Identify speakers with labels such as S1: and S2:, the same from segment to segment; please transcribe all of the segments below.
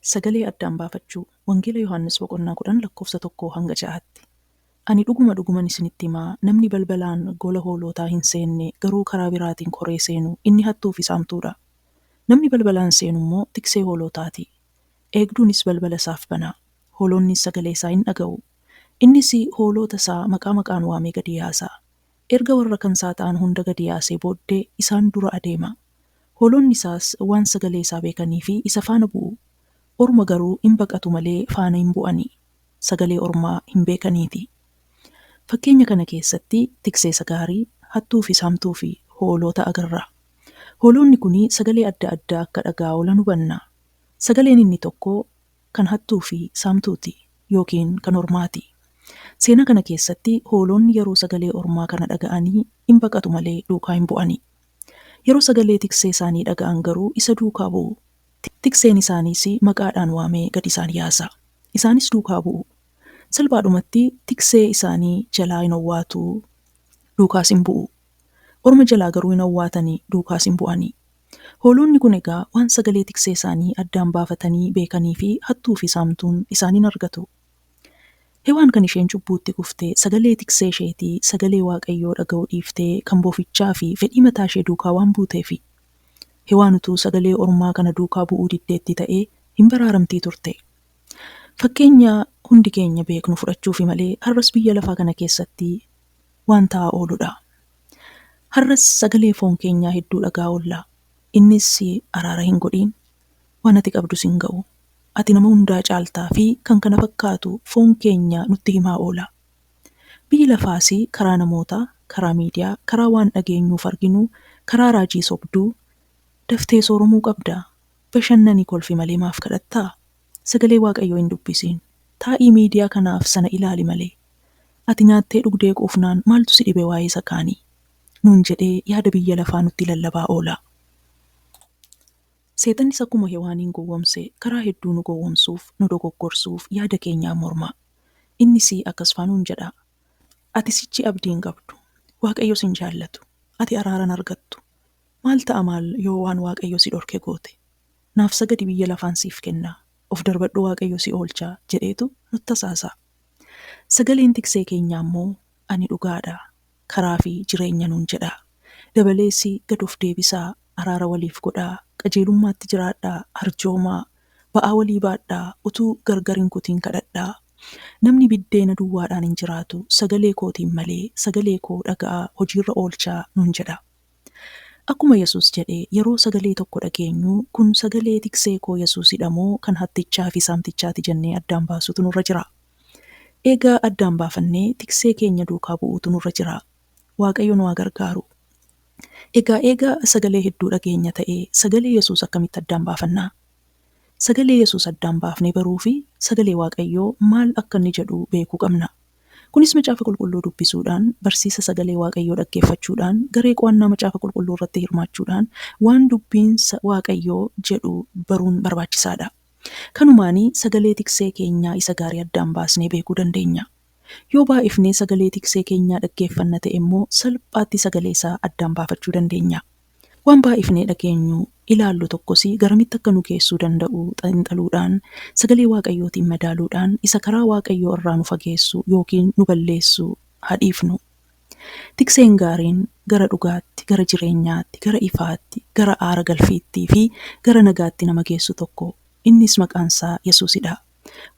S1: Sagalee addaan baafachuu. Wangeela Yohaannis boqonnaa 10 lakkoofsa 1 hanga 6tti. Ani dhuguma dhuguman isinitti hima, namni balbalaan gola hoolootaa hin seenne, garuu karaa biraatiin koree seenu, inni hattuu fi saamtuu dha. Namni balbalaan seenu immoo tiksee hoolootaa ti. Eegduunis balbala isaaf bana, hooloonnis sagalee isaa in dhaga'u, Innis hooloota isaa maqaa maqaan waamee gadi yaasaa. Erga warra kan isaa ta'an hunda gadi yaasee booddee isaan dura adeema. Hooloonni isaas waan sagalee isaa beekaniif isa faana bu'u. Orma garuu in baqatu malee faana hin bu'ani. Sagalee ormaa hin beekaniiti. Fakkeenya kana keessatti tikseesa gaarii, hattuu fi saamtuu fi hooloota agarra. Hooloonni kun sagalee adda addaa akka dhaga'aa oolan hubanna. Sagaleen inni tokko kan hattuu fi saamtuuti yookiin kan ormaati. Seenaa kana keessatti hooloonni yeroo sagalee ormaa kana dhaga'anii in baqatu malee duukaa hin bu'ani. Yeroo sagalee tiksee isaanii dhaga'an garuu isa duukaa bu'u. Tikseen isaaniis maqaadhaan waamee gad isaan yaasa. Isaanis duukaa bu'u. Salphaadhumatti tiksee isaanii jalaa in owwaatu, duukaas in bu'u. Orma jalaa garuu hin owwaatani, duukaas hin bu'ani. Hoolonni kun egaa waan sagalee tiksee isaanii addaan baafatanii beekanii fi hattuu fi saamtuun isaan hin argatu. Hewaan kan isheen cubbuutti kufte sagalee tiksee isheetii sagalee Waaqayyoo dhaga'uu dhiiftee kan bofichaa fi fedhii mataa ishee duukaa waan buuteefi. Hewaan utuu sagalee ormaa kana duukaa bu'uu diddeetti ta'ee hin baraaramtii turte. Fakkeenya hundi keenya beeknu fudhachuufi malee har'as biyya lafaa kana keessatti waan ta'aa ooludha. Har'as sagalee foon keenyaa hedduu dhaga'aa oolla. Innis araara hin godhiin, waan ati qabdu sin ga'u, ati nama hundaa caalta fi kan kana fakkaatu foon keenya nutti himaa oola. Biyyi lafaas karaa namoota, karaa miidiyaa, karaa waan dhageenyuu fi arginu, karaa raajii sobduu, daftee sooromuu qabda. Bashannani kolfi malee maaf kadhattaa? Sagalee Waaqayyoo hin dubbisiin. Taa'ii miidiyaa kanaaf sana ilaali malee. Ati nyaattee dhugdee quufnaan maaltu si dhibe waa'ee isa kaanii? nuun jedhee yaada biyya lafaa nutti lallabaa oola. Seexannis akkuma Hewaaniin gowwomse karaa hedduu nu gowwomsuuf, nu dogoggorsuuf yaada keenyaan morma. Innis akkasfaa nuun jedha, Ati sichi abdii hin qabdu. Waaqayyo sin jaallatu. Ati araara hin argattu. Maal ta'a maal yoo waan Waaqayyo si dhorke goote? Naaf sagadi biyya lafaan siif kenna, of darbadhu Waaqayyo si oolcha jedheetu nutti hasaasa'a. Sagaleen Tiksee keenyaa immoo Ani dhugaadha, karaa fi jireenya nuun jedha. Dabaleesi gad of deebisaa, araara waliif godhaa, qajeelummaatti jiraadhaa, arjoomaa, ba'aa walii baadhaa, utuu gargar hin kutiin kadhadhaa. Namni biddeena duwwaadhaan hin jiraatu, sagalee kootiin malee, sagalee koo dhaga'aa, hojiirra oolchaa nuun jedha. Akkuma Yesuus jedhe, yeroo sagalee tokko dhageenyu, kun sagalee tiksee koo Yesuusi dha moo kan hattichaa fi saamtichaa ti jennee addaan baasuutu nurra jira. Eegaa addaan baafannee tiksee keenya duukaa bu'uutu nurra jira. Waaqayyo nu haa gargaaru. Egaa eegaa sagalee hedduu dhageenya ta'e, sagalee Yesuus akkamitti addaan baafannaa? Sagalee Yesuus addaan baafnee baruu fi sagalee Waaqayyoo maal akka inni jedhu beekuu qabna. Kunis Macaafa Qulqulluu dubbisuudhaan, barsiisa Sagalee Waaqayyoo dhaggeeffachuudhaan, garee qo'annaa Macaafa Qulqulluu irratti hirmaachuudhaan waan Dubbiin Waaqayyoo jedhu baruun barbaachisaa dha. Kanumaan sagalee tiksee keenyaa isa gaarii addaan baasnee beekuu dandeenya. Yoo baay'ifnee sagalee tiksee keenyaa dhaggeeffanna ta'e immoo salphaatti sagalee isaa addaan baafachuu dandeenya. Waan baay'ifnee dhageenyu, ilaallu tokkos garamitti akka nu geessuu danda'u xiinxaluudhaan, Sagalee Waaqayyootiin madaaluudhaan isa karaa Waaqayyoo irraa nu fageessu ykn nu balleessu haa dhiifnu. Tikseen gaariin gara dhugaatti, gara jireenyaatti, gara ifaatti, gara aara galfiitti fi gara nagaatti nama geessu tokko, innis maqaan isaa Yesuusidhaa.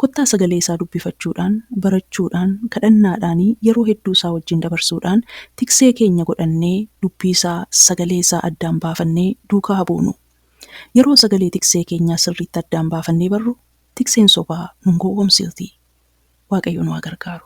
S1: Kottaa sagalee isaa dubbifachuudhaan, barachuudhaan, kadhannaadhaani yeroo hedduu isaa wajjin dabarsuudhaan tiksee keenya godhannee dubbii isaa, sagalee isaa addaan baafannee duukaa haa buunu. Yeroo sagalee tiksee keenyaa sirriitti addaan baafannee barru tikseen sobaa nun gowwomsiti. Waaqayyo nu haa gargaaru.